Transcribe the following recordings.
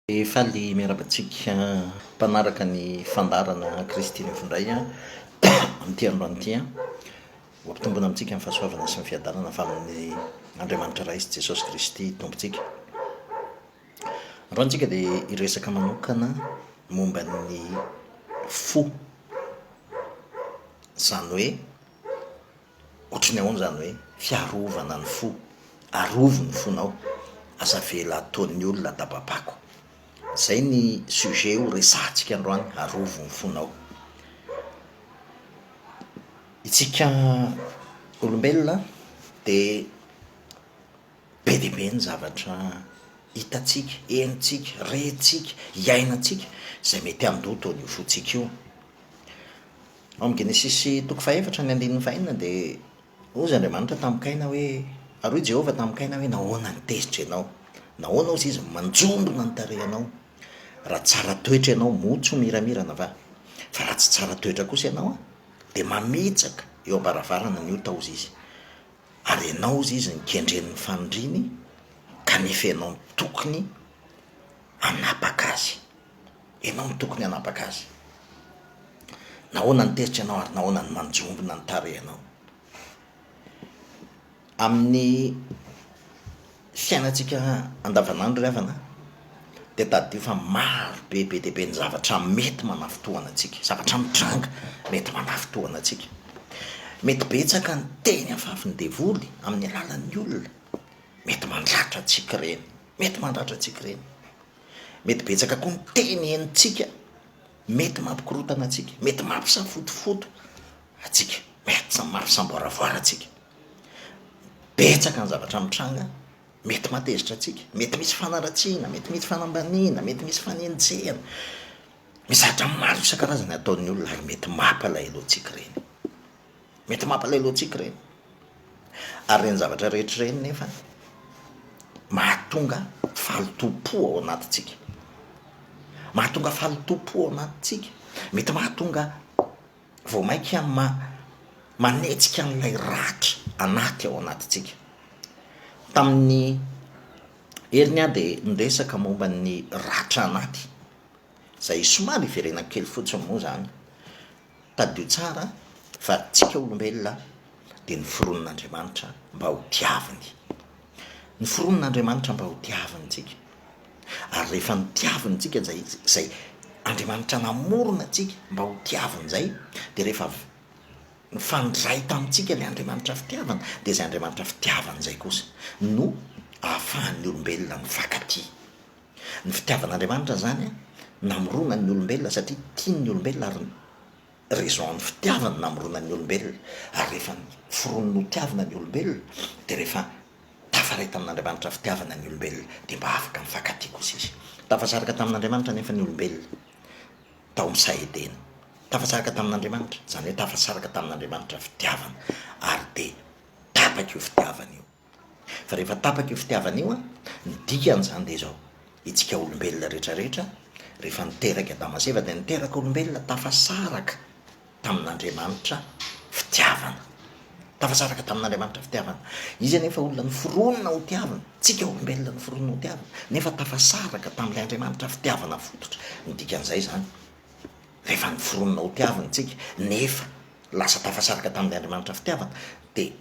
Dia faly miaraka antsika mpanaraka ny fandaharana Kristy Mifindray amin'ity androany ity. Ho ampitombina amintsika ny fahasoavana sy ny fiadanana avy amin'ny Andriamanitra Ray sy Jesosy Kristy Tompontsika. Androany tsika dia hiresaka manokana momba ny fo, izany hoe. Ohatry ny ahoana izany hoe fiarovana ny fo? Arovy ny fonao, aza avela ataon'ny olona atababako. Izay ny sujet ho resahantsika androany, arovy ny fonao. Isika olombelona dia be dia be ny zavatra hitantsika, henontsika, rentsika, iainantsika izay mety handoto an'io fontsika io. Ao amin'ny Genesisy toko fahefatra ny andininy fahenina dia hozy Andriamanitra tamin'i Kaina hoe, ary hoy Jehovah tamin'i Kaina hoe, nahoana no tezitra ianao? Nahoana hozy izy no manjombona ny tarehinao? Raha tsara toetra ianao, moa tsy ho miramirana va? Fa raha tsy tsara toetra kosa ianao, dia mamitsaka eo am-baravarana ny ota hozy izy. Ary ianao hozy izy no kendren'ny fanindriany, kanefa ianao no tokony hanapaka azy. Ianao no tokony hanapaka azy. Nahoana ny tezitra ianao ary nahoana ny manjombona ny tarehinao? Amin'ny fiainantsika andavanandro ry havana dia tadidio fa maro be be dia be ny zavatra mety manafintohina antsika, zavatra mitranga mety manafintohina antsika. Mety betsaka ny teny afafin'ny devoly amin'ny alalan'ny olona, mety mandratra antsika ireny, mety mandratra antsika ireny. Mety betsaka koa ny teny henontsika mety mampikorotana antsika, mety mampisafotofoto antsika, mety mampisamboaravoara antsika. Betsaka ny zavatra mitranga mety mahatezitra antsika, mety misy fanaratsiana, mety misy fanambaniana, mety misy fanenjehana, misy zavatra maro isan-karazany ataon'ny olona ary mety mampalahelo antsika ireny. Mety mampalahelo antsika ireny. Ary ireny zavatra rehetra ireny nefa mahatonga fahalotoam-po ao anatintsika. Mahatonga fahalotoam-po ao anatintsika. Mety mahatonga vao mainka ma- manetsika an'ilay ratra anaty ao anatintsika. Tamin'ny heriny aho dia niresaka momba ny ratra anaty, izay somary iverenako kely fotsiny moa izany. Tadidio tsara fa tsika olombelona dia noforonin'Andriamanitra mba ho tiaviny. Noforonin'Andriamanitra mba ho tiaviny tsika. Ary rehefa notiaviny tsika izay izay Andriamanitra namorona tsika mba ho tiaviny izay dia rehefa avy nifandray tamintsika ilay Andriamanitra fitiavana dia izay Andriamanitra fitiavana izay kosa no ahafahan'ny olombelona mifankatia. Ny fitiavan'Andriamanitra izany namorona ny olombelona satria tiany ny olombelona ary raison an'ny fitiavany namorona ny olombelona ary rehefa foroniny ho tiavina ny olombelona dia rehefa tafaray tamin'Andriamanitra fitiavana ny olombelona dia mba afaka mifankatia kosa izy. Tafasaraka tamin'Andriamanitra anefa ny olombelona tao amin'ny saha Edena. Tafasaraka tamin'Andriamanitra, izany hoe tafasaraka tamin'Andriamanitra fitiavana ary dia tapaka io fitiavana io. Fa rehefa tapaka io fitiavana io, ny dikan'izany dia izao, Isika olombelona rehetrarehetra, rehefa niteraka Adama sy Eva dia niteraka olombelona tafasaraka tamin'Andriamanitra fitiavana. Tafasaraka tamin'Andriamanitra fitiavana. Izy anefa olona noforonina ho tiavina, tsika olombelona noforonina ho tiavina, nefa tafasaraka tamin'ilay Andriamanitra fitiavana fototra. Ny dikan'izay izany, rehefa noforonina ho tiavina isika, nefa lasa tafasaraka tamin'ilay Andriamanitra fitiavana, dia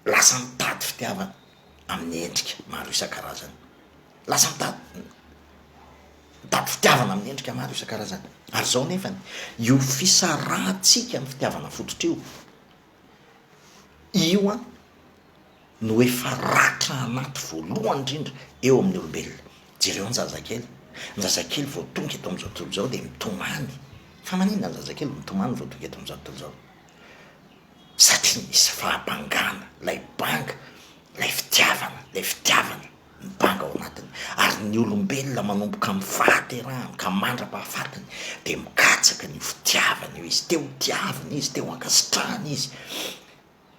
lasa mitady fitiavana amin'ny endrika maro isan-karazany, lasa mitady mitady fitiavana amin'ny endrika maro isan-karazany, ary zao nefany io fisarahantsika amin'ny fitiavana fototra io, io an no efa ratra anaty voalohany indrindra eo amin'ny olombelona, jereo ny zazakely, ny zazakely vao tonga eto amin'izao tontolo izao dia mitomany, fa maninona ny zazakely mitomany vao tonga eto amin'izao tontolo izao? satria misy fahabangana, ilay banga, ilay fitiavana, ilay fitiavana mibanga ao anatiny, ary ny olombelona manomboka amin'ny fahaterahany ka mandra-pahafatiny dia mikatsaka an'io fitiavana io izy, te ho tiavina izy, te ho ankasitrahana izy,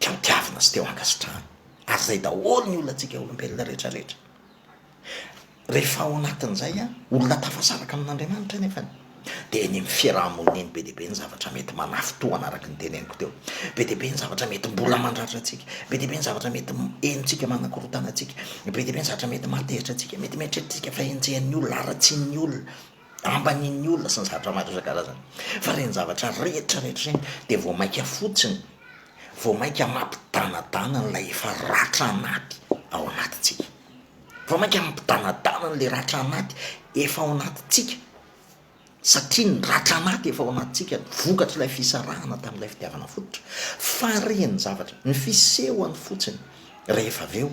te ho tiavina sy te ho ankasitrahana, ary izay daholo ny olantsika olombelona rehetra rehetra. Rehefa ao anatin'izay olona tafasaraka amin'Andriamanitra anefa dia eny amin'ny fiaraha-monina eny be dia be ny zavatra mety manafintohana araka ny teneniko teo. Be dia be ny zavatra mety mbola mandratra antsika, be dia be ny zavatra mety henontsika manakorontana antsika, be dia be ny zavatra mety mahatezitra antsika, mety mieritreritrika fa henjehan'ny olona, haratsian'ny olona, ambanin'ny olona sy ny zavatra maro isan-karazany. Fa ireny zavatra rehetra rehetra ireny dia vao mainka fotsiny, vao mainka mampidanadana an'ilay efa ratra anaty ao anatintsika. Vao mainka mampidanadana an'ilay ratra anaty efa ao anatintsika, satria ny ratra anaty efa ao anatintsika, vokatr'ilay fisarahana tamin'ilay fitiavana fototra, faren'ny zavatra, ny fisehony fotsiny, rehefa avy eo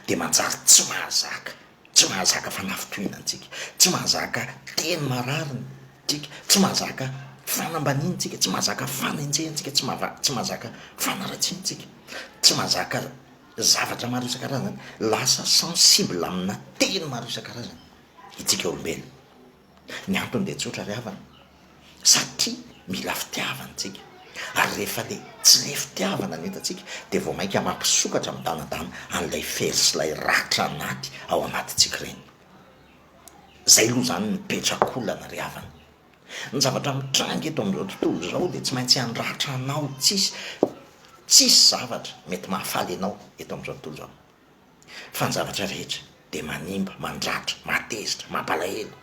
dia manjary tsy mahazaka, tsy mahazaka fanafitohina antsika, tsy mahazaka teny marary ntsika, tsy mahazaka fanambaniana antsika, tsy mahazaka fanenjehana antsika, tsy mahazaka fanaratsiana antsika, tsy mahazaka. Zavatra maro isan-karazany lasa sensible amina teny maro isan-karazany itsika olombelona. Ny antony dia tsotra ry havana, satria mila fitiavana itsika, ary rehefa le tsy le fitiavana no hitantsika dia vao mainka mampisokatra midanadana an'ilay fery sy ilay ratra anaty ao anatintsika ireny. Zay loha zany ny petrakolana ry havana. Ny zavatra mitranga eto amin'izao tontolo izao dia tsy maintsy handratra anao, tsisy tsisy zavatra mety mahafaly anao eto amin'izao tontolo izao, fa ny zavatra rehetra dia manimba, mandratra, mahatezitra, mampalahelo,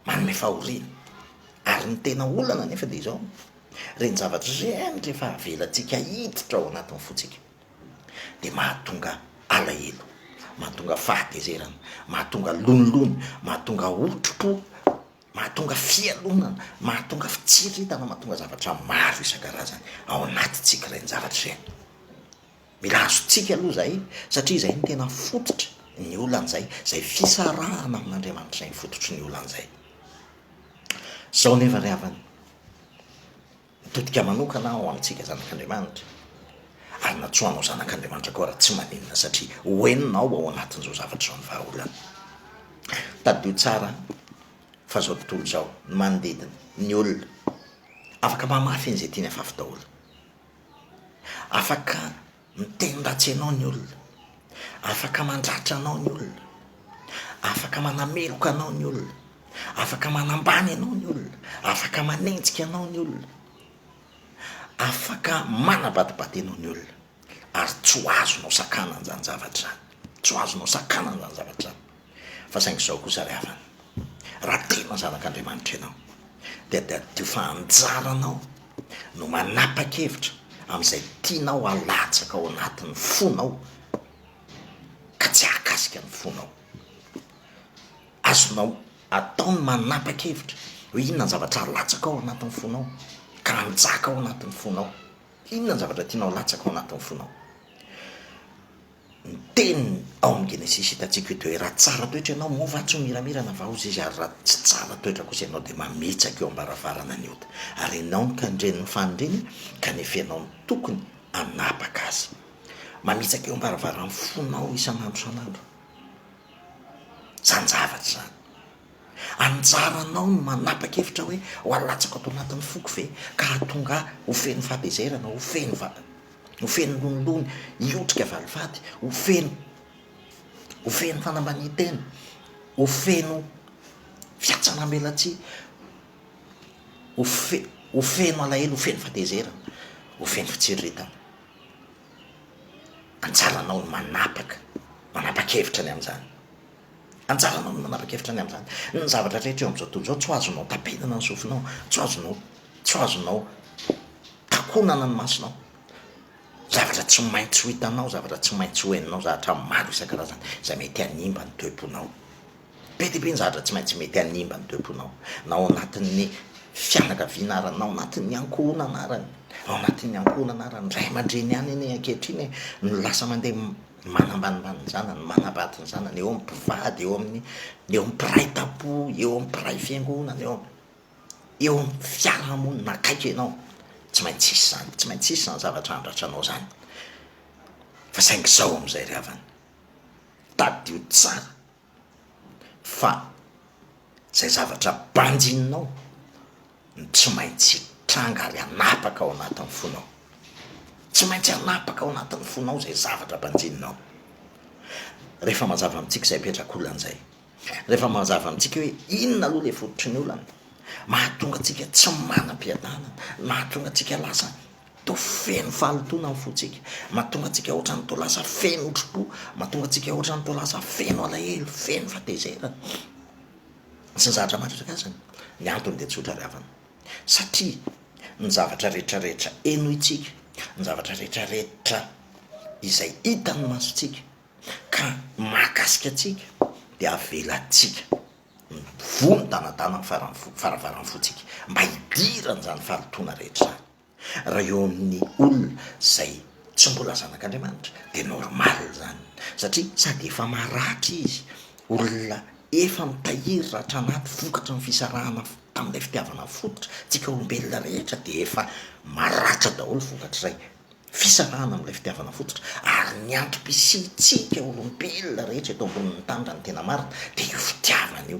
manome fahoriana, ary ny tena olana anefa dia izao, ireny zavatra ireny rehefa avelantsika hiditra ao anatin'ny fontsika dia mahatonga alahelo, mahatonga fahatezerana, mahatonga lonilony, mahatonga otrompo. Mahatonga fialonana, mahatonga fitsiriritana, mahatonga zavatra maro isan-karazany ao anatintsika ireny zavatra ireny. Mila azontsika aloha izay satria izay no tena fototry ny olana izay, izay fisarahana amin'Andriamanitra izay no fototry ny olana izay. Izao nefa ry havana, Mitodika manokana aho amintsika zanak'Andriamanitra, ary natsoa anao zanak'Andriamanitra koa raha tsy maninona, satria ho henonao ao anatin'izao zavatra izao ny vahaolana. Tadidio tsara fa izao tontolo izao, ny manodidina, ny olona, afaka mamaly fehiny izay tiany afafy daholo. Afaka. Miteny ratsy anao ny olona, afaka mandratra anao ny olona, afaka manameloka anao ny olona, afaka manambany anao ny olona, afaka manenjika anao ny olona, afaka manabadibady anao ny olona ary tsy ho azonao sakana an'izany zavatra izany, tsy ho azonao sakana an'izany zavatra izany. Fa saingy izao kosa ry havana, raha tena zanak'Andriamanitra ianao, dia tadidio fa anjaranao no manapa-kevitra amin'izay tianao halatsaka ao anatin'ny fonao ka tsy hahakasika ny fonao. Azonao atao ny manapa-kevitra hoe inona ny zavatra halatsaka ao anatin'ny fonao ka hanjaka ao anatin'ny fonao. Inona ny zavatra tianao halatsaka ao anatin'ny fonao? ny teniny ao amin'ny Genesisy hitantsika io dia hoe raha tsara toetra ianao moa va tsy ho miramira na vaoza izy ary raha tsy tsara toetra kosa ianao dia mametsaka eo am-baravarana ny ota ary ianao no tandrenin'ny fanindriny kanefa ianao no tokony hanapaka azy mametsaka eo am-baravaran'ny fonao isan'andro isan'andro izany zavatra izany Anjaranao ny manapa-kevitra hoe ho alatsako ato anatin'ny foko ve ka hahatonga ahy ho feno fahatezerana, ho feno va- ho feno lonilony hiotrika valifaty, ho feno ho feno fanambanian-tena, ho feno fiatsanambelatsihy, ho fe- ho feno alahelo, ho feno fahatezerana, ho feno fitsiriritana. Anjaranao ny manapaka, manapa-kevitra ny amin'izany. Anjaranao ny manapa-kevitra ny amin'izany. Ny zavatra rehetra eo amin'izao tontolo izao, tsy ho azonao tapenana ny sofinao, tsy ho azonao, tsy ho azonao takonana ny masonao. Zavatra tsy maintsy ho hitanao, zavatra tsy maintsy ho henonao, zavatra maro isan-karazany izay mety hanimba ny toe-ponao. Be dia be ny zavatra tsy maintsy mety hanimba ny toe-ponao, na ao anatin'ny fianakaviana ara, na ao anatin'ny ankohonana ara, ao anatin'ny ankohonana ara. Ny ray aman-dreny ihany anie ankehitriny no lasa mandeha ny manambanimbany ny zanany, ny manambady ny zanany, eo amin'ny mpivady, eo amin'ny eo amin'ny mpiray tampo, eo amin'ny mpiray fiangonana, eo amin'ny eo amin'ny fiarahamonina akaiky anao, tsy maintsy hisy izany, tsy maintsy hisy izany zavatra handratra anao izany, fa saingy izao amin'izay ry havana, tadidio tsara fa izay zavatra banjininao no tsy maintsy hitranga ary hanapaka ao anatin'ny fonao, tsy maintsy hanapaka ao anatin'ny fonao izay zavatra banjininao, rehefa mazava amintsika izay petrak'olona izay, rehefa mazava amintsika hoe inona aloha ilay fototry ny olana, mahatonga antsika tsy manam-piadanana, mahatonga antsika lasa Toa feno fahalotoana ny fontsika. Mahatonga antsika hoatran'ny toa lasa feno otripo. Mahatonga antsika hoatran'ny toa lasa feno alahelo, feno fatezerana, sy ny zavatra mahatratra azy. Ny antony dia tsotra ry havana, satria ny zavatra rehetrarehetra henointsika, ny zavatra rehetrarehetra izay hitan'ny masontsika ka mahakasika antsika dia avelantsika mivoha midanadana ny faravaran'ny fontsika mba hidiran'izany fahalotoana rehetra izany. Raha eo amin'ny olona izay tsy mbola zanak'Andriamanitra dia normal izany satria sady efa maratra izy, olona efa mitahiry ratra anaty vokatry ny fisarahana tamin'ilay fitiavana fototra, tsika olombelona rehetra dia efa maratra daholo vokatr'ilay fisarahana amin'ilay fitiavana fototra ary ny antom-pisiantsika olombelona rehetra eto ambonin'ny tany raha ny tena marina dia io fitiavana io.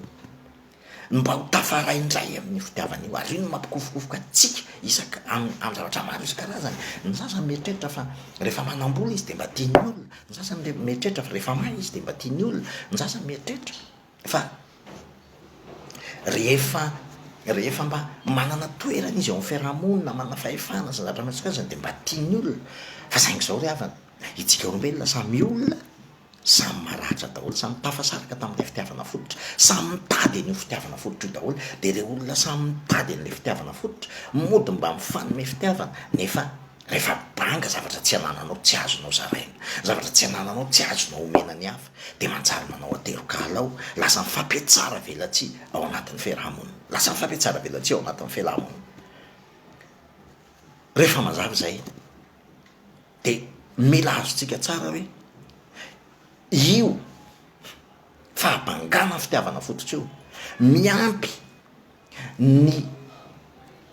Mba ho tafaray indray amin'ny fitiavan'io ary io no mampikofokofoka antsika isak amin'ny amin'ny zavatra maro isan-karazany. Ny sasany mieritreritra fa rehefa manam-bola izy dia mba tian'ny olona, ny sasany re- mieritreritra fa rehefa mahay izy dia mba tian'ny olona, ny sasany mieritreritra fa rehefa rehefa mba manana toerana izy eo amin'ny fiarahamonina, manana fahefana sy ny zavatra miharo isan-karazany dia mba tian'ny olona, fa saingy izao ry havana, Isika olombelona samy olona, samy maratra daholo, samy tafasaraka tamin'ilay fitiavana fototra, samy mitady an'io fitiavana fototra io daholo, dia ireo olona samy mitady an'ilay fitiavana fototra, mody mba mifanome fitiavana, nefa rehefa banga zavatra tsy anananao, tsy azonao zaraina, zavatra tsy anananao, tsy azonao omena ny hafa, dia manjary manao aterokala ao, lasa mifampiatsara velatsihy ao anatin'ny fiaraha-monina, lasa mifampiatsara velatsihy ao anatin'ny fiaraha-monina. Rehefa mazava izay. de mila azontsika tsara hoe io fahabangana fitiavana fototra io miampy ny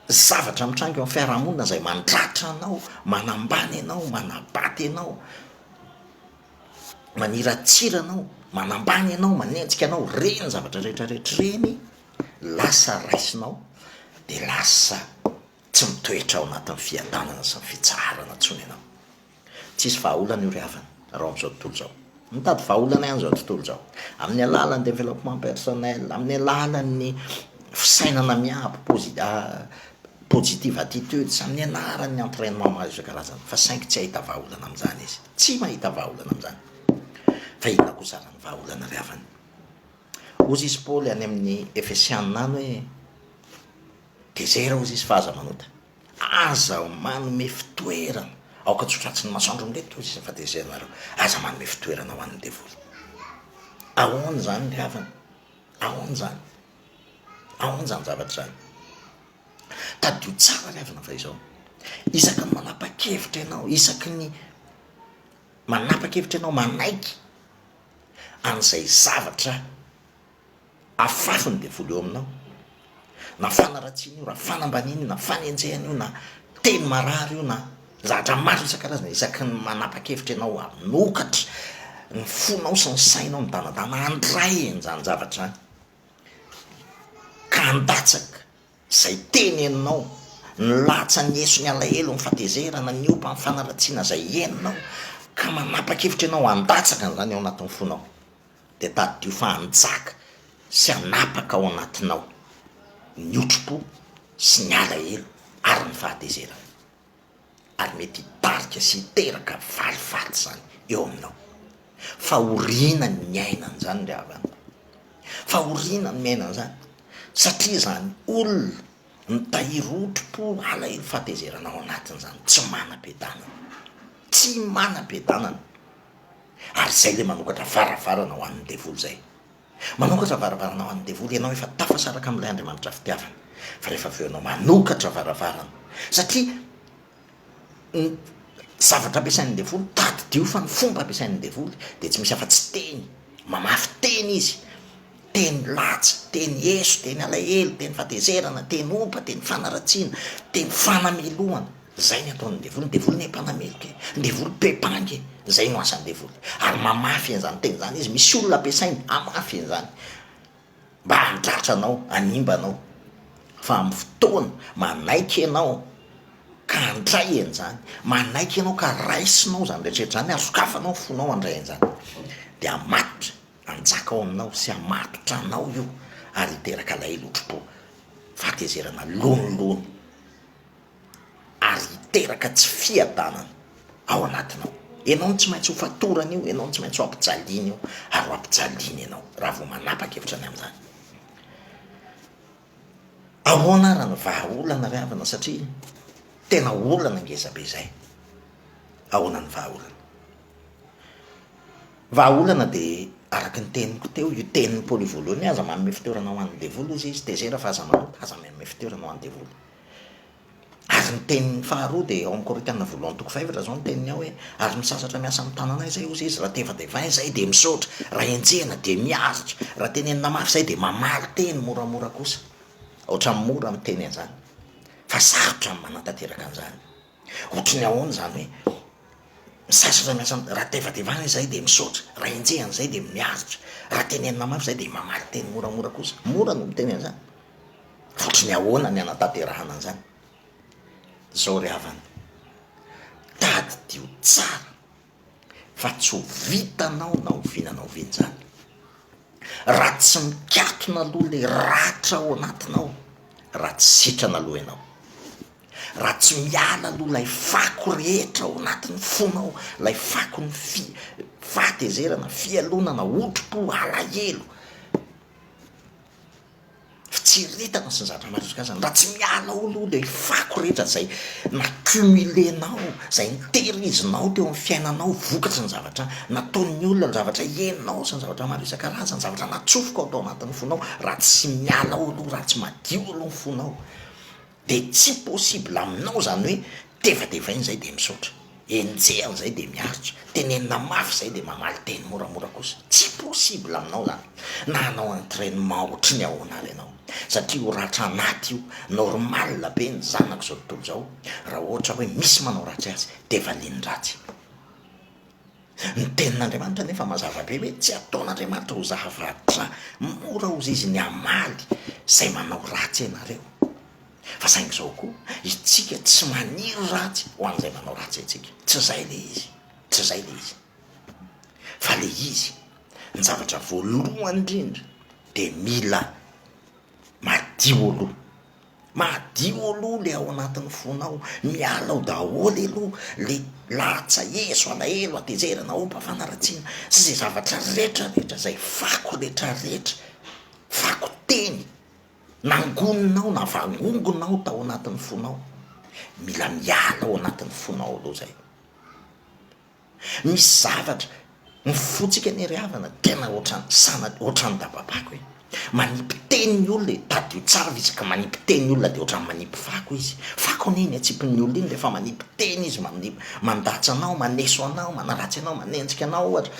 zavatra mitranga eo amin'ny fiarahamonina izay mandratra anao, manambany anao, manabaty anao, maniratsira anao, manambany anao, manenjika anao, reny zavatra rehetra rehetra ireny lasa raisinao de lasa. Tsy mitoetra ao anatin'ny fiadanana sy ny fitsaharana intsony ianao. Tsy hisy vahaolana io ry havana, raha ao amin'izao tontolo izao. Mitady vahaolana ihany izao tontolo izao. Amin'ny alalan'ny développement personnel, amin'ny alalan'ny fisainana miabo, posi- positive attitudes, amin'ny alalan'ny entrainement maro isan-karazany, fa saingy tsy hahita vahaolana amin'izany izy. Tsy mahita vahaolana amin'izany. Fa inona kosa ary ny vahaolana ry havana? Hozy isy Paoly any amin'ny Efesiana any hoe. Dia zay raozy izy fa aza manota. Aza manome fitoerana. Aoka tsy ho tratrin'ny masoandro amin'ireto hoy Jesosy fa tezerinareo. Aza manome fitoerana ho an'ny devoly. Ahoana izany ry havana? Ahoana izany? Ahoana izany zavatra izany? Tadidio tsara ry havana fa izao. Isaky ny manapa-kevitra ianao, isaky ny manapa-kevitra ianao manaiky an'izay zavatra Afafy ny devoly eo aminao. Na fanaratsiana io, na fanambaniana io, na fanenjehana io, na teny marary io, na zavatra maro isan-karazany isaky ny manapa-kevitra ianao hanokatra ny fonao sy ny sainao midanadana handray an'izany zavatra izany, ka handatsaka izay teneninao, ny latsany eso, ny alahelo, ny fahatezerana, ny opa, ny fanaratsiana izay henonao, ka manapa-kevitra ianao handatsaka an'izany ao anatin'ny fonao. dia tadidio fa hanjaka sy hanapaka ao anatinao ny otrompo sy ny alahelo ary ny fahatezerana. Ary mety hitarika sy hiteraka valifaty izany eo aminao. Fahoriana ny miaina an'izany ry havana. Fahoriana ny miaina an'izany satria izany olona mitahiry otrompo, alahelo, fahatezerana ao anatiny izany tsy manam-piadanana. Tsy manam-piadanana. Ary izay ilay manokatra varavarana ho an'ny devoly izay. Manokatra varavarana ho an'ny devoly ianao efa tafasaraka amin'ilay Andriamanitra fitiavana. Fa rehefa avy eo ianao manokatra varavarana, satria ny zavatra ampiasain'ny devoly, tadidio fa ny fomba ampiasain'ny devoly dia tsy misy afa-tsy teny, mamafy teny izy, Teny latsy, teny eso, teny alahelo, teny fatezerana, teny ompa, teny fanaratsiana, teny fanamelohana. Izay ny ataon'ny devoly. Ny devoly anie mpanameloka e! Ny devoly be mpangy e! Izay no asan'ny devoly. Ary mamafy an'izany teny izany izy. Misy olona ampiasainy hamafy an'izany, mba handratra anao, hanimba anao. Fa amin'ny fotoana manaiky ianao ka handray an'izany, manaiky ianao ka raisinao izany rehetra rehetra izany ary sokafanao ny fonao handray an'izany, dia hamatotra Hanjaka ao aminao sy hamatotra anao io ary hiteraka alahelo otrpo, fahatezerana lonilony ary hiteraka tsy fiadanana ao anatinao. Ianao no tsy maintsy ho fatorany io, ianao no tsy maintsy ho ampijaliany io ary ho ampijaliany ianao raha vao manapa-kevitra ny amin'izany. Ahoana ary ny vahaolana ry havana satria tena olana ngezabe izay. Ahoana ny vahaolana? Vahaolana dia araka ny teniko teo, io tenin'i Paoly io voalohany hoe aza manome fitoerana ho an'ny devoly hoy izy, tezera fa aza manota, aza manome fitoerana ho an'ny devoly. Ary ny teniny faharoa dia ao amin'ny Korinthiana voalohany toko fahefatra izao ny teniny ao hoe, Ary ny sasatra miasa amin'ny tananay izay hozy izy, raha tevatevaina izay dia misaotra, raha henjehina dia miaritra, raha tenenina mafy izay dia mamaly teny moramora kosa. Ohatran'ny mora miteny an'izany fa sarotra ny manatanteraka an'izany. Ohatry ny ahoana izany hoe, ny sasatra miasa amin'ny, raha tevatevaina izay dia misaotra, raha henjehina izay dia miaritra, raha tenenina mafy izay dia mamaly teny moramora kosa. Mora ny miteny an'izany. Ohatran'ny ahoana ny hanatanterahana an'izany? Izao ry havana, tadidio tsara fa tsy ho vitanao na oviana na oviana izany raha tsy mikatona aloha ilay ratra ao anatinao, raha tsy sitrana aloha ianao, raha tsy miala aloha ilay fako rehetra ao anatin'ny fonao, ilay fakon'ny fi- fahatezerana, fialonana, hotropo, alahelo. Fitsiriritana sy ny zavatra maro isan-karazany. Raha tsy miala ao aloha ilay fako rehetra izay na-cumuler-nao, izay nitehirizinao teo amin'ny fiainanao vokatry ny zavatra nataon'ny olona, ny zavatra henonao sy ny zavatra maro isan-karazany, ny zavatra natsofoka ao anatin'ny fonao, raha tsy miala ao aloha, raha tsy madio aloha ny fonao, De tsy possible aminao zany hoe tevatevaina zay de misaotra, enjehina zay de miaritra, tenenina mafy zay de mamaly teny moramora kosa, tsy possible aminao zany na hanao entrainement ohatry ny ahoana ary ianao satria io ratra anaty io normal be ny zanako zao tontolo zao raha ohatra hoe misy manao ratsy azy de valiany ratsy. Ny Tenin'Andriamanitra anefa mazava be hoe tsy ataon'Andriamanitra ho zavatra mora ho ziziny hamaly izay manao ratsy anareo. Fa saingy izao koa, Itsika tsy maniry ratsy ho an'izay manao ratsy antsika. Tsy izay ilay izy. Tsy izay ilay izy. Fa ilay izy, ny zavatra voalohany indrindra dia mila madio aloha. Madio aloha le ao anatin'ny fonao, miala ao daholo aloha le latsa ezo alahelo hatezerana hopam-panaratsiana sy izay zavatra rehetra rehetra izay fako rehetra rehetra, fako teny nangonina ao na vangongon ao tao anatin'ny fonao, mila miala ao anatin'ny fonao aloha izay. Misy zavatra mifotsika anie ry havana tena ohatran'ny sana ohatran'ny dababako e! manipy teny ny olona e! tadidio tsara fa izy ka manipy teny ny olona dia ohatran'ny manipy fako izy, fako anie iny atsipin'ny olona iny rehefa manipy teny izy, manipy, mandatsa anao, maneso anao, manaratsy anao, manenjika anao ohatra,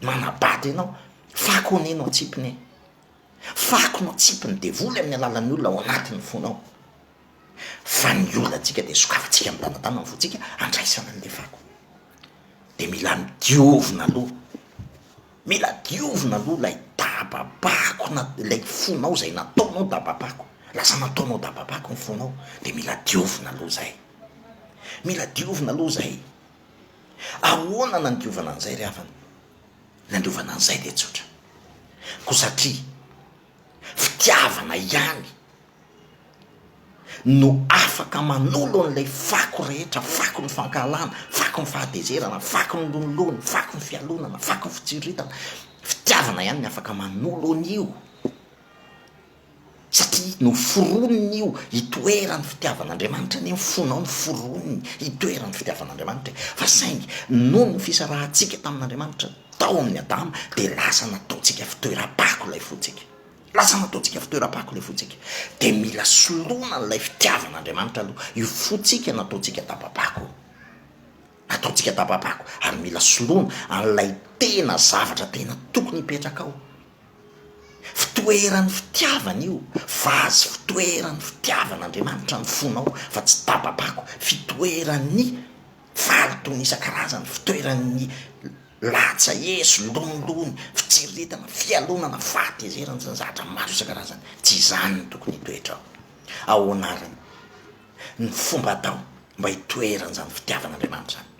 manabado ianao, fako anie no atsipiny e! fako no atsipin'ny devoly amin'ny alalan'ny olona ao anatin'ny fonao. fa ny olantsika dia sokafantsika midanadana ny vontsika andraisana an'ilay fako, dia mila diovina aloha, mila diovina aloha ilay dababako na ilay fonao izay nataonao dababako, lasa nataonao dababako ny fonao dia mila diovina aloha izay, mila diovina aloha izay, ahoana no andiovana an'izay ry havana? Ny andiovana an'izay dia tsotra, koa satria Fitiavana ihany no afaka manolo an'ilay fako rehetra, fako ny fankahalana, fako ny fahatezerana, fako ny lonilony, fako ny fialonana, fako ny fitsiritana, fitiavana ihany no afaka manolo an'io, satria noforoniny io, itoeran'ny fitiavan'Andriamanitra anie ny fonao noforoniny, itoeran'ny fitiavan'Andriamanitra e, fa saingy noho ny fisarahantsika tamin'Andriamanitra, tao amin'i Adama dia lasa nataontsika fitoeram-pako ilay fontsika. Lasa nataontsika fitoeram-pako ilay fontsika. Dia mila soloina an'ilay fitiavan'Andriamanitra aloha io fontsika nataontsika daba-pako io. Nataontsika daba-pako ary mila soloina an'ilay tena zavatra tena tokony hipetraka ao. Fitoeran'ny fitiavana io, vazy fitoeran'ny fitiavan'Andriamanitra ny fonao fa tsy daba-pako, fitoeran'ny Faly toy ny isan-karazany fitoeran'ny latsa, eso, lonilony, fitsiriritana, fialonana, fahatezerana sy ny zavatra maro isan-karazany. Tsy izany no tokony hitoetrao. Ahoana ary ny fomba atao mba hitoeran'izany fitiavan'Andriamanitra izany?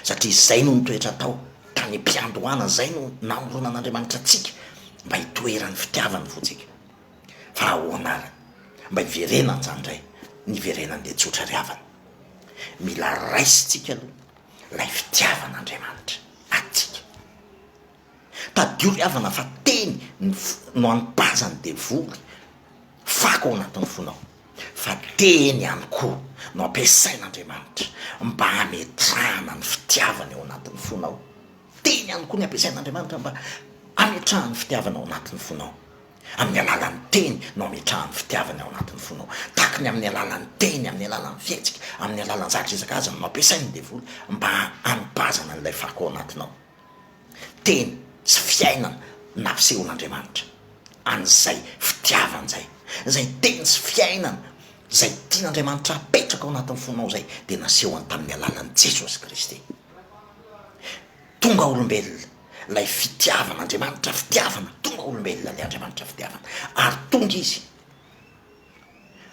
Satria izay no nitoetra tao tany am-piandohana, izay no namoronan'Andriamanitra antsika mba hitoeran'ny fitiavany ny fontsika. Fa ahoana ary mba hiverenan'izany indray? Ny hiverenany dia tsotra ry havana. Mila raisintsika aloha ilay fitiavan'Andriamanitra antsika. Tadidio ry havana fa teny ny foko no anipanja ny devoly. Fako ao anatin'ny fonao fa teny ihany koa no ampiasain'Andriamanitra mba hametrahana ny fitiavany ao anatin'ny fonao. Teny ihany koa ny ampiasain'Andriamanitra mba hametrahany ny fitiavany ao anatin'ny fonao. Amin'ny alalan'ny teny no ametrahany fitiavany ao anatin'ny fonao. Takiny amin'ny alalan'ny teny, amin'ny alalan'ny fihetsika, amin'ny alalan'ny zavatra isan-karazany no ampiasain'ny devoly mba hanipazana an'ilay fako ao anatinao. Teny sy fiainana no nasehoan'Andriamanitra an'izay fitiavany izay. Izay teny sy fiainana izay tian'Andriamanitra hapetraka ao anatin'ny fonao izay dia nasehony tamin'ny alalan'i Jesosy Kristy. Tonga olombelona ilay fitiavana Andriamanitra fitiavana tonga olombelona le Andriamanitra fitiavana ary tonga izy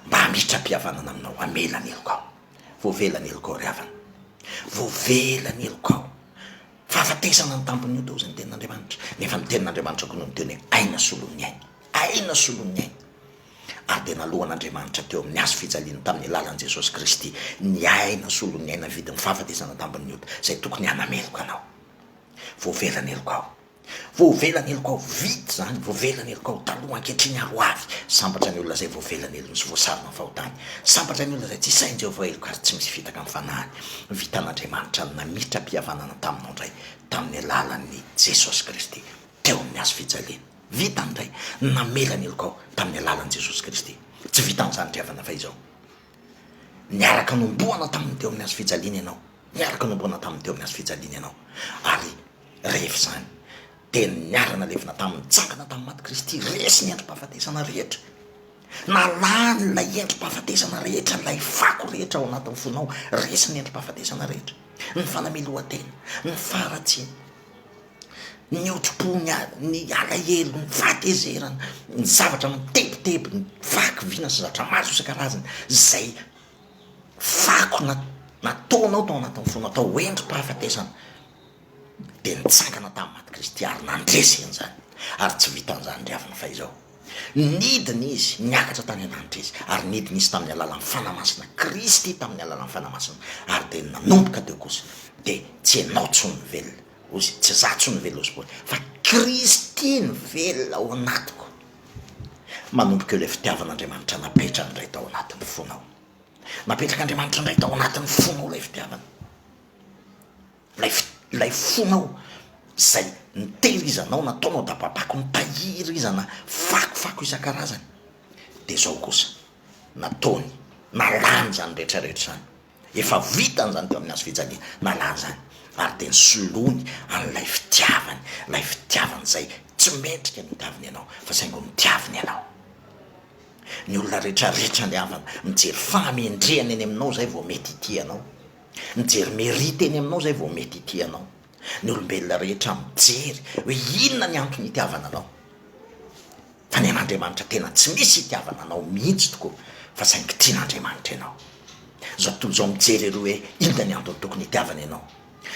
mba hamitram-pihavanana aminao hamela ny helokao voavela ny helokao ry havana voavela ny helokao fahafatesana ny tampony io tao zay ny tenin'Andriamanitra nefa ny tenin'Andriamanitra koa no niteny hoe aina solon'ny aina aina solon'ny aina ary dia nalohan'Andriamanitra teo amin'ny hazo fijaliana tamin'ny alalan'i Jesosy Kristy ny aina solon'ny aina vidin'ny fahafatesana tampony ota zay tokony hanameloka anao Voavelan'ny heloka aho. Voavelan'ny heloka aho. Vita izany. Voavelan'ny heloka aho. Taloha, ankehitriny ary ho avy. Sambatra ny olona izay voavelan'ny helony sy voasarona amin'ny fahotany. Sambatra ny olona izay tsy sahin'i Jehovah heloka ary tsy misy fitaka amin'ny fanahiny. Vitan'Andriamanitra ny nametra-pihavanana taminao indray, tamin'ny alalan'i Jesosy Kristy, teo amin'ny hazo fijaliana. Vitany indray. Namela ny helokao, tamin'ny alalan'i Jesosy Kristy. Tsy vitan'izany ry havana, fa izao. Niaraka nomboana taminy teo amin'ny hazo fijaliana ianao, niaraka nomboana taminy teo amin'ny hazo fijaliana ianao, ary rehefa izany dia niara-nalevina taminy, nitsangana tamin'ny maty Kristy, resy ny endri-pahafatesana rehetra, na lany ilay endri-pahafatesana rehetra, ilay fako rehetra ao anatin'ny fonao, resy ny endri-pahafatesana rehetra, ny fanamelohan-tena, ny faharatsiana. ny hotrom-pony ary ny alahelo, ny fahatezerana, ny zavatra mitebiteby, ny vaky vina sy zatra maso isan-karazany izay fako na nataonao tao anatin'ny fonao tao ho endri-pahafatesana dia nitsangana tamin'ny maty Kristy ary nandresy an'izany ary tsy vitan'izany ry havana fa izao nidina izy niakatra tany an-danitra izy ary nidina izy tamin'ny alalan'ny Fanahy Masina Kristy tamin'ny alalan'ny Fanahy Masina ary dia nanomboka teo kosa dia tsy ianao intsony ny velona Ozy, tsy za tsony velona ao sport fa Kristy no velona ao anatiko. Manomboka eo ilay fitiavan' Andriamanitra napetrany indray tao anatin'ny fonao. Napetrak' Andriamanitra indray tao anatin'ny fonao ilay fitiavana. Ilay fi- ilay fonao izay nitehirizanao, nataonao dababako, nitahirizana fakofako isan-karazany. Dia izao kosa, nataony, nalany izany rehetra rehetra izany. Efa vitany izany teo amin'ny hazo fijaliana, nalany izany ary dia nosoloany an'ilay fitiavany, ilay fitiavany izay tsy mendrika ny hotaviny ianao fa saingy notiaviny ianao. Ny olona rehetra ritra ny havana, mijery fahamendrehana eny aminao izay vao mety hitia anao, mijery mérite eny aminao izay vao mety hitia anao. ny olombelona rehetra mijery hoe inona ny antony itiavana anao fa ny an'Andriamanitra tena tsy misy itiavana anao mihitsy tokoa fa saingy tian'Andriamanitra ianao zao tontolo zao mijery ery hoe inona ny antony tokony itiavana ianao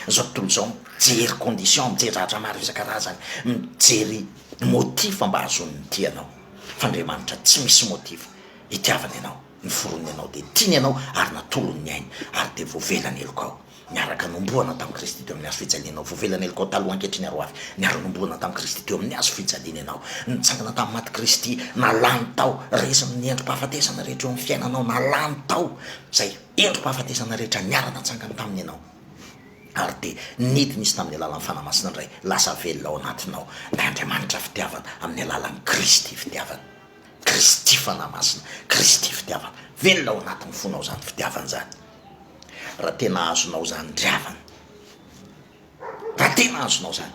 zao tontolo zao mijery condition mijery zavatra maro isan-karazany mijery motif mba hahazoany ny tianao fa Andriamanitra tsy misy motif itiavana ianao ny forony ianao dia tiany ianao ary natolony ny ainy ary dia voavelany helokao Niaraka hanombohana tamin'i Kristy teo amin'ny hazo fijaliana aho. Voavelan'i Elkao taloha ankehitriny ary ho avy. Niara-nombohana tamin'i Kristy teo amin'ny hazo fijaliana ianao. Nitsangana tamin'ny maty Kristy. Na lany tao. Resy amin'ny endri-pahafatesana rehetra eo amin'ny fiainanao. Na lany tao izay endri-pahafatesana rehetra niara-natsangany taminy ianao. Ary dia nidina Izy tamin'ny alalan'ny Fanahy Masina indray. Lasa velona ao anatinao ilay Andriamanitra fitiavana amin'ny alalan'ny Kristy fitiavana. Kristy Fanahy Masina. Kristy fitiavana. Velona ao anatin'ny fonao izany fitiavana izany. Raha tena azonao izany ry havana, raha tena azonao izany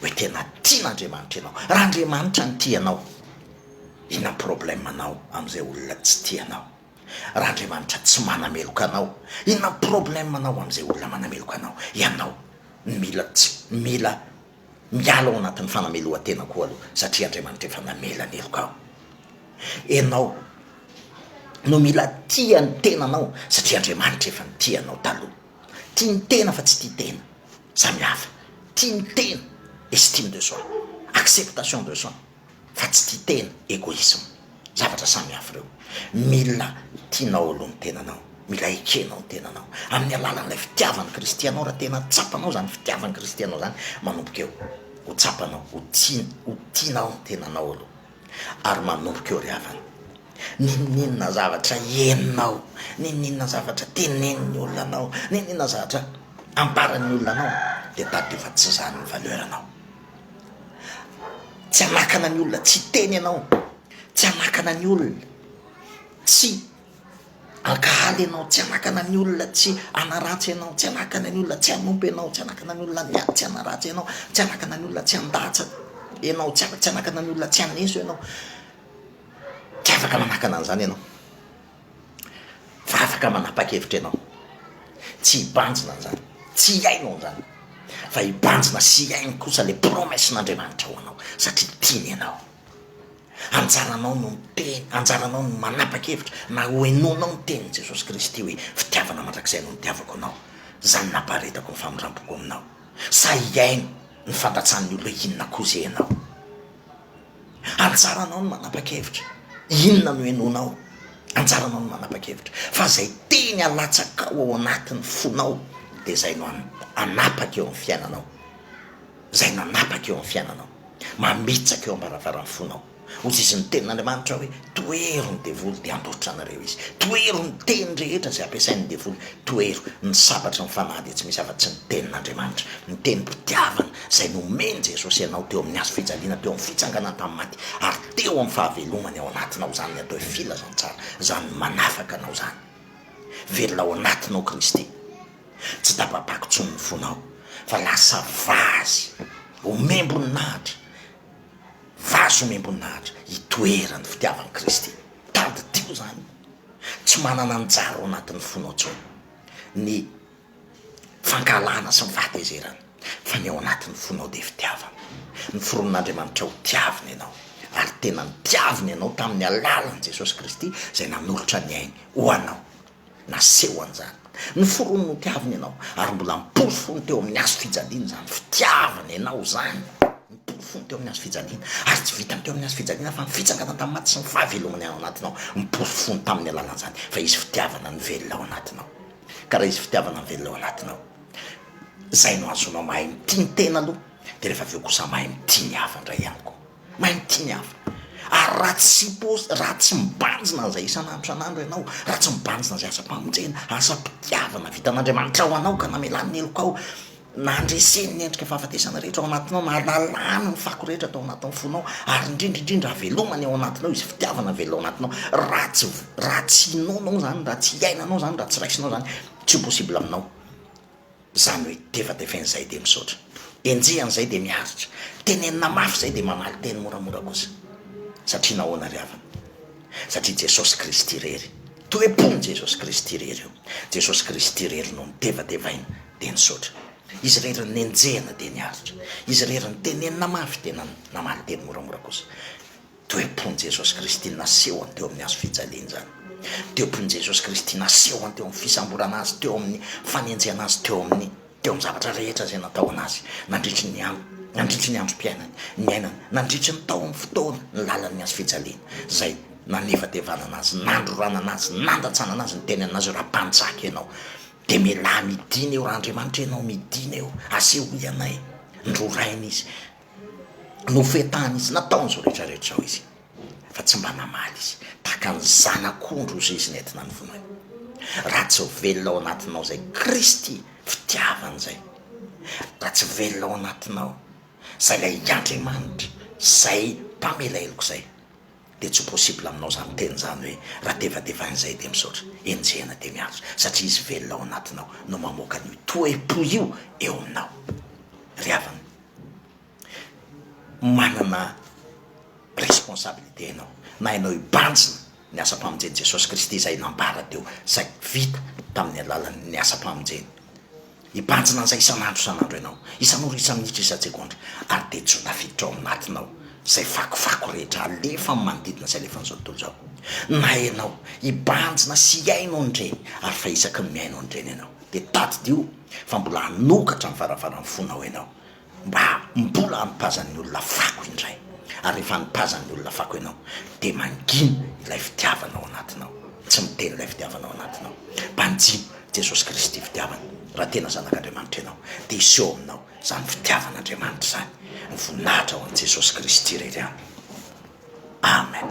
hoe tena tian'Andriamanitra ianao, raha Andriamanitra no tia anao, inona ny problème anao amin'izay olona tsy tia anao? Raha Andriamanitra tsy manameloka anao, inona ny problème anao amin'izay olona manameloka anao? Ianao no mila tsy mila Miala ao anatin'ny fanamelohan-tena koa aloha satria Andriamanitra efa namela ny heloka aho. Ianao no mila tia ny tenanao satria Andriamanitra efa nitia anao taloha. Tia ny tena fa tsy tia tena. Samy hafa. Tia ny tena, estime de soi, acceptation de soi. fa tsy tia tena, egoisme, zavatra samy hafa ireo, mila tianao aloha ny tenanao, mila ekenao ny tenanao, amin'ny alalan'ilay fitiavan'i Kristy anao, raha tena tsapanao izany fitiavan'i Kristy anao izany, manomboka eo ho tsapanao, ho tiany, ho tianao ny tenanao aloha, ary manomboka eo ry havana, n'inon'inona zavatra henonao, n'inon'inona zavatra tenenin'ny olona anao, n'inon'inona zavatra ambaran'ny olona anao, dia tadidio fa tsy izany ny valeur-nao, Tsy hanakana ny olona tsy hiteny ianao, tsy hanakana ny olona tsy hankahala ianao, tsy hanakana ny olona tsy hanaratsy ianao, tsy hanakana ny olona tsy hanompo ianao, tsy hanakana ny olona ny tsy hanaratsy ianao, tsy hanakana ny olona tsy handatsa ianao, tsy hanakana ny olona tsy haneso ianao, tsy afaka manakana an'izany ianao. fa afaka manapa-kevitra ianao tsy hibanjina an'izany, tsy hihaino an'izany, fa hibanjina sy hihaino kosa ilay promesse-n'Andriamanitra ho anao, satria tiany ianao. Anjaranao no miteny, anjaranao no manapa-kevitra na hohenoinao ny tenin'i Jesosy Kristy hoe, fitiavana mandrakizay no nitiavako anao, izany nampaharetako ny famindram-poko aminao, sa hihaino ny fandatsahan'ny olona inona koa izay ianao. Anjaranao ny manapa-kevitra inona no henoinao, anjaranao ny manapa-kevitra fa zay teny alatsakao ao anatin'ny fonao de zay no hanapaka eo amin'ny fiainanao, zay no hanapaka eo amin'ny fiainanao, mamitsaka eo am-baravaran'ny fonao, hozizin'ny tenin'Andriamanitra hoe. Tohero ny devoly dia handositra anareo izy. Tohero ny teny rehetra izay ampiasain'ny devoly. Tohero ny sabatry ny fanahy dia tsy misy afa-tsy ny tenin'Andriamanitra, ny tenim-pitiavana izay nomen'i Jesosy anao teo amin'ny hazo fijaliana, teo amin'ny fitsanganany tamin'ny maty ary teo amin'ny fahavelomany ao anatinao. Izany ny atao hoe filazantsara, izany manafaka anao izany. Velona ao anatinao Kristy. Tsy tapa-pako intsony ny fonao fa lasa vazy ho membon'Atra. Vazo omem-boninahitra hitoeran'ny fitiavan'i Kristy. Tadidio izany. Tsy manana anjara ao anatin'ny fonao intsony ny fankahalana sy ny fahatezerana, fa ny ao anatin'ny fonao dia fitiavana. Noforonin'Andriamanitra ho tiavina ianao, ary tena nitiaviny anao tamin'ny alalan'i Jesosy Kristy izay nanolotra ny ainy ho anao. Naseho an'izany ny forony notiaviny ianao, ary mbola mipory fony teo amin'ny hazo fijaliana izany fitiavana ianao izany. Nipory fony teo amin'ny hazo fijaliana, ary tsy vitany teo amin'ny hazo fijaliana fa ny fitsangana tamin'ny maty sy ny fahavelomany ao anatinao. Nipory fony tamin'ny alalan'izany fa hisy fitiavana nivelona ao anatinao. Ka raha hisy fitiavana mivelona ao anatinao, izay no ahazoanao mahay mitia ny tena aloha, dia rehefa avy eo kosa mahay mitia ny hafa indray ihany koa. Mainty ny afo. Ary raha tsy pos, raha tsy mibanjina an'izay isan'andro isan'andro ianao, raha tsy mibanjina izay asam-pamonjena, asam-pitiavana vitan'Andriamanitra ho anao ka namelany ny helokao, nandreseny ny endrika fahafatesana rehetra ao anatinao, na nalany ny fako rehetra tao anatin'ny fonao, ary indrindra indrindra havelomany ao anatinao izy fitiavana velona ao anatinao, raha tsy, raha tsy hinoanao izany, raha tsy iainanao izany, raha tsy raisinao izany, tsy ho possible aminao. Zany hoe tefatefainy zay dia misaotra, enjehiny zay dia miaritra, tenenina mafy zay dia mamaly teny moramora kosa. Satria nahoana ry havana? Satria Jesosy Kristy irery, toe-pon'i Jesosy Kristy irery io. Jesosy Kristy irery no notefatefaina dia nisaotra. Izy irery no nenjehina dia niaritra. Izy irery no tenenina mafy dia namaly teny moramora kosa. Toe-pon'i Jesosy Kristy nasehony teo amin'ny Hazo fijaliana izany. Toe-pon'i Jesosy Kristy nasehony teo amin'ny fisamborana Azy, teo amin'ny fanenjehana Azy, teo amin'ny, teo amin'ny zavatra rehetra izay nataona Azy, nandritry ny andro, nandritry ny androm-piainany, niainany, nandritry ny taon'ny fotoana nilalan'ny Hazo fijaliana, izay nanevatevanana Azy, nandroranana Azy, nandatsanana Azy, nitenenana Azy hoe, Raha mpanjaka Ianao, dia mialà midina eo, raha Andriamanitra Ianao, midina eo, asehoy anay ny rorainy Izy. nofetahany izy, nataony izao rehetra rehetra izao izy, fa tsy mba namaly izy, tahaka ny zanak'ondry ho zeziny entina ny vonoiny, raha tsy velona ao anatinao izay Kristy fitiavana izay, raha tsy velona ao anatinao izay ilay Andriamanitra izay mpamela heloka izay, dia tsy ho possible aminao izany teny izany hoe raha tevatevaina izay dia misaotra, enjehina dia miantso, satria izy velona ao anatinao no mamoaka an'io toe-po io eo aminao, ry havana. manana responsabilité ianao na ianao hibanjina ny asam-pamonjen'i Jesosy Kristy izay nambara teo, izay vita tamin'ny alalan'ny asam-pamonjeny. Hibanjina an'izay isan'andro isan'andro ianao, isan'ora isa-minitra isa-tsegondra, ary dia tsy ho tafiditra ao anatinao izay fakofako rehetra alefa amin'ny manodidina sy alefan'izao tontolo izao. Na ianao hibanjina sy hihaino an'ireny ary fa isaky ny mihaino an'ireny ianao dia tadidio, fa mbola hanokatra ny varavaran'ny fonao ianao mba mbola hanipazan'ny olona fako indray, ary rehefa hanipazan'ny olona fako ianao dia mangina ilay fitiavana ao anatinao, tsy miteny ilay fitiavana ao anatinao, banjino Jesosy Kristy fitiavana, raha tena zanak'Andriamanitra ianao dia hiseho aminao izany fitiavan'Andriamanitra izany, ny voninahitra ho an'i Jesosy Kristy irery ihany, Amen.